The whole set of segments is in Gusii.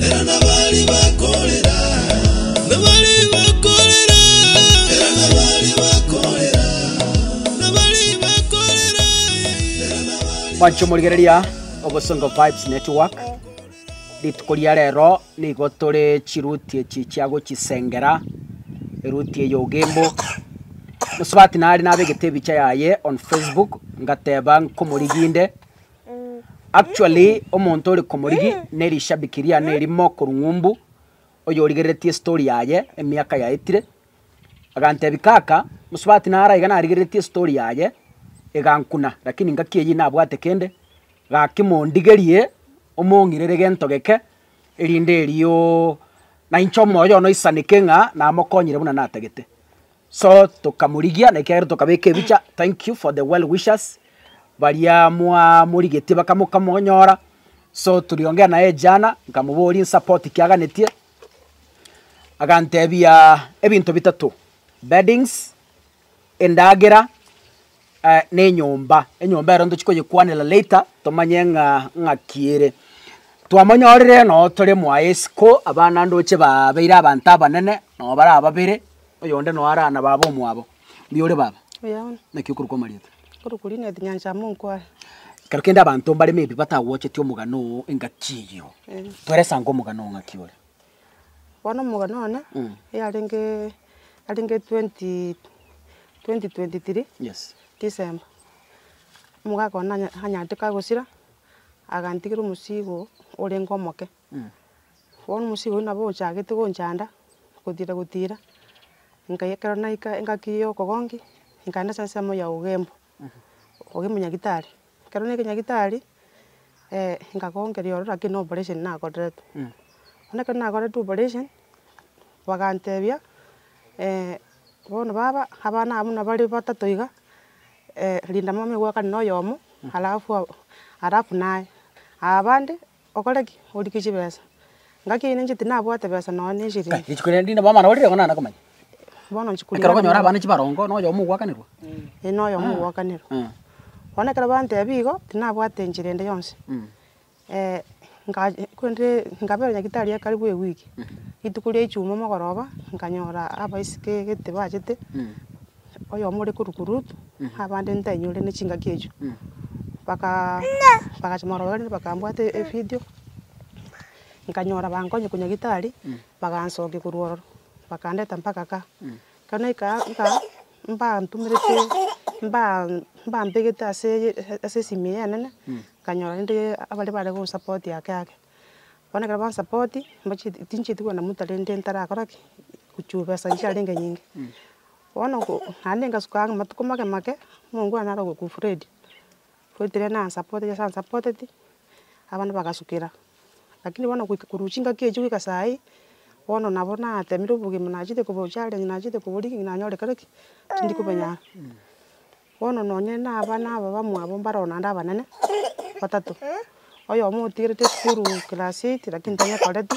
Era nabari bakorera. Nabari bakorera. Era nabari bakorera. Nabari bakorera. Era nabari Mwancho morigereria Obosongo Vibes Network. Rituko ria rero nigo tore chiruti echi chia gochisengera, eruti eye ogembo. Mosubati nare nabegete ebicha yaye on Facebook ngateba nkomoriginde Actually omonto ore komorigi ne rishabiki riane erimo korwa ng'umbu oyorigereretie estory yaye emiaka yaetire agantebi kaka mosubati naro aiga narigereretie estory yaye egankuna lakini ngaki eyio nabwate kende gaki mondigerie omong'irere gento geke erinde eriooo nainche omoyo oyono oisaneke ng'a namokonyire buna natagete. So tokamorigia, na ekiagera tokabeka ebicha, thank you for the well wishers, baria mwamorigetie bakamonyora, so tuliongea na yeye jana, nkamoboria nsupport ki aganetie, agantebia ebinto bitato, beddings, endagera. nenyomba, enyomba ero ntochi koyekwanera later tomanye ng'a ng'aki ere. Twamonyorire noo tore mwaye isiko abana naandoche baabeire abanto abanene noo bare ababere, oyonde noo ara na baba omwabo. Mbuya ore baba? Mbuya bono. Naki okorokwa Marieta? Okorokwa Linet Nyanchama Onkware. Ekero kende abanto mbare maybe batagwocheti omogano oo engaki eyio, tweresa ango omogano oo ng'aki ore? Bono omogano one yarenge yarenge twenty twenty twenty three December, omogaka one nanya nanyarete kagosira, agantigera omosigo orenge omoke, bono omosigo oyio nabo ochagete gonchanda, gotira gotira, nkaiyekero naika engaki ya okogonki, nkaenda ase ensemo ya ogembo, okenyagitari, ekero ne ekenyagitari, nkagonkeria ororo lakini operation nakoretwe, bono ekero nakoretwe operation, bagantebia bono baba, abana aba buna bare batato iga, rinda mama oye gwakane na oyomo, alafu alafu naye, abande Okore ki? Origie chibesa. Ngaki aye ninche tinabwate besa nonya ne eshirini. Rituko riria rinde bono orire igo nare komanya. Bono inche Ekero okonyora abana chibarongo, na oyomo ogwakanerwa. Ee na oyomo ogwakanerwa. Bono ekero bantebia igo, tinabwate enchera ende yonsi. korende nkaberwa nyagetari ase karibu ewiki. Rituko ria ijumaa mogoroba, nkanyora abaiseke egete bachete, oyomo ore korwa Kuruth, abande ntainyore ne chingaki echio, baka bagacha morogendo bakambwata evidio, nkanyora bankonye konya gitari, bagansokia korwa ororo, bakandeta mpaka ka, ekero naika aka ka, mbantumerete mba- mbambegete ase eye ase esimi eye enene, nkanyora rende abare bare konsapoti ake ake, bono ekero bansapoti, mbochie tinchieti kogenda motari rende ntarakora ki, gochia besa chiarenge nyinge. Bono naende ngasuka amatuko make make mungu one naro ogoku Freddy, Freddy rende na supportete ase a supporteti abana bagasukera, lakini bono goika korwa chingaki echio goika sai, bono nabo natemire obogima nachete koba o challenge nachete koba o rigging nanyore kare ki, tindi kobenya. Bono nonye na abana aba bamwabo mbaro naende abanene batato, oyomo otigerete esukuru class eight lakini tari akoreti,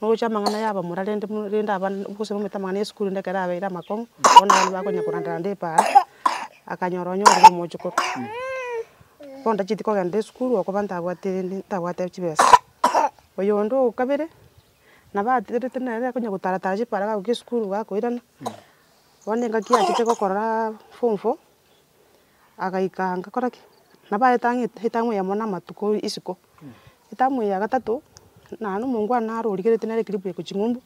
nogocha amang'ana ya abamura rende rende abana gose nomanyete amang'ana ya esukuru rende ekero abeire amakong'u, bono abana bakonya koranda randa epa aa, akanyora onye orire omochokoro. Bono ndachieti kogenda esukuru okoba ntabwate ntabwate chibesa. Oyonde o kabere, nabo atigerete nere akonya gotara tara chiparaga agoika esukuru gakoirana. Bono engaki yachete gokorora form four, agaika agakora ki? Nabo aete ang'e etamu eye amo na amatuko isiko, etamu eye ya gatato, naye na omonto one naro origereti nere kiripu iko ching'umbu,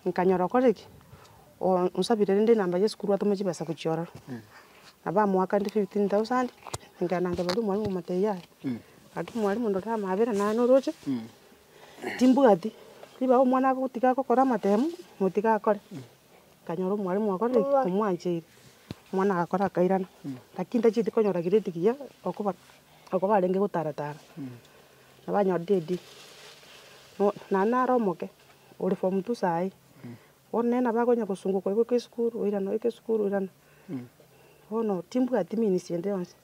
nkanyora okore ki? O- onsabire rende enamba ya esukuru atome chibesa gochia ororo, nabo amoakande fifteen thousand, nkagenda nkaboria omwalimu omotebi yaya, gaki mwalimu ndore amaabera naye noroche, timbwati, ribaga omwana agotiga agokora amatemo, motiga akore. Nkanyora omwalimu akorire ki? Omwancheire. Omwana agakora akairana, lakini tachieti konyora grade giya okoba oko barenge gotara tara, nabo anyorire D. Bo naende nare omoke, ore form two saii, bono nere nabo akonya kosunguka oiboke esukuru, oirane oike esukuru, oirane. Bono timbwati means ende yonsi,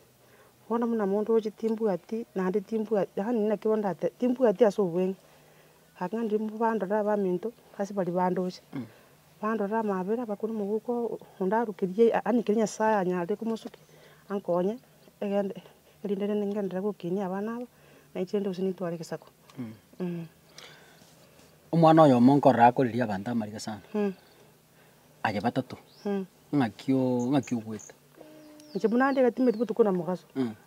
bono buna monto oche timbwati naende timbwati, yaani naki bono ndate, timbwati ase obweng'e. Agakena riria mbandorere abaminto ase baria bandoche, bandorere amaabera bakore omogoko onde arukerie yaani keria Nyasae anyare komosukia ankonye egende erinde rende ngenderere gokenia abana aba, na inche rende gose nintware egesaku. Omwana oyomo nkorora akoreria abanto amariga sana, aria batato, ng'aki o- ng'aki ogoeta. Inche buna ndigete emeritiba botuko na mogaso,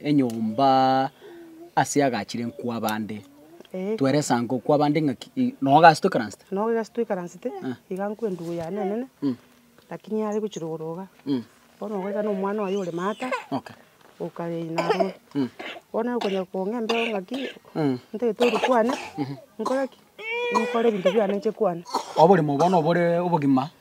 enyomba ase agachire nkw'abande. Tweresa nkw'abande ng'aki noo ogachia toikaransete? Noo egasi toikaransete, iga nkw'endugu yane enene, lakini yare gochia rogoro iga, bono goika na omwana oye ore maata, okareina aroro. Bono nere okonyora kong'a embeo ng'aki, ntagete oria kwane, nkore ki? Nkore ebinto biane inche kwane. Oboremo bono bore obogima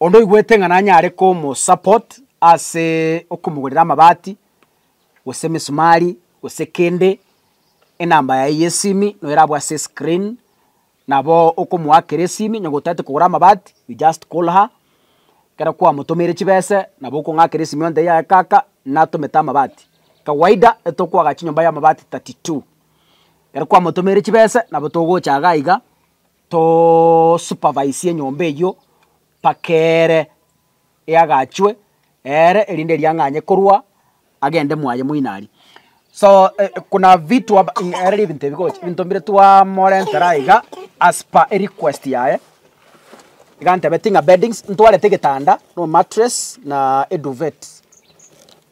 Onde oigwete ng'a nanyare komosupport ase okomogorera amabati, gose emisumari, gose kende, enamba yaye yesimi noyo erabwo ase escreen, nabo okomoakera esimi onye gotaete kogora amabati, you just call her, ekero kwamotomeire chibese nabo okong'akera esimi ontebie yaya kaka natomete amabati. Kawaida etokoaga chinyomba ya amabati thirty two. Ekero kwamotomeire chibese nabo togocha iga iga, Tosupervisie enyomba eyio mpaka ere eagachwe ere erinde eriang'anye korwa agende mwaye moinari. So kuna vitu aba ere ribinto ebigocha ebinto mbire twamorentera aye iga as per erequest yaye, iga antebeti ng'a beddings ntwarete egetanda, na mattress na eduvet.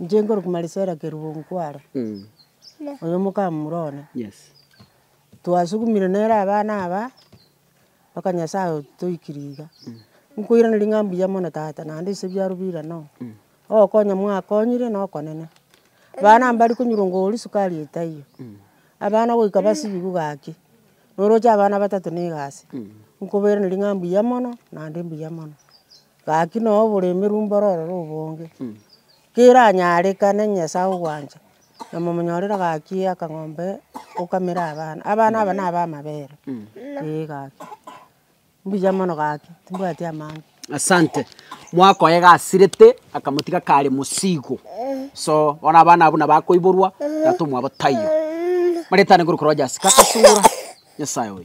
Inche nkore kumarisera kerubo nkware, oyo mokamura one, twasugumire nere abana aba, mpaka nyasaye otoikire iga, nkoiraneria ng'a mbuya mono tata, naende ase ebiaro bira noo, ogokonya mwakonyire na okonene, abana aba mbare konyora ngoria sukari etaiyo, abana goika basibeku gaki, noroche abana batato na egasi, nkobairaneria ng'a mbuya mono, naende mbuya mono. Gaki noo oboremeri mboro ororo obonge, keranyarekane ng'a Nyasae ogwancha, na momonyorere gaki akang'ombe okamere abana, abana aba naba amabere, ee gaki. Mbuya mono gaki, timbwati amang'ana. Asante, mwakoa egasirete, akamotiga kare mosigo, so bono abana abwo nabo akoiborwa, tata omwabo taiyo. Maretane korwa Jasika, Kasura, Nyasae oye.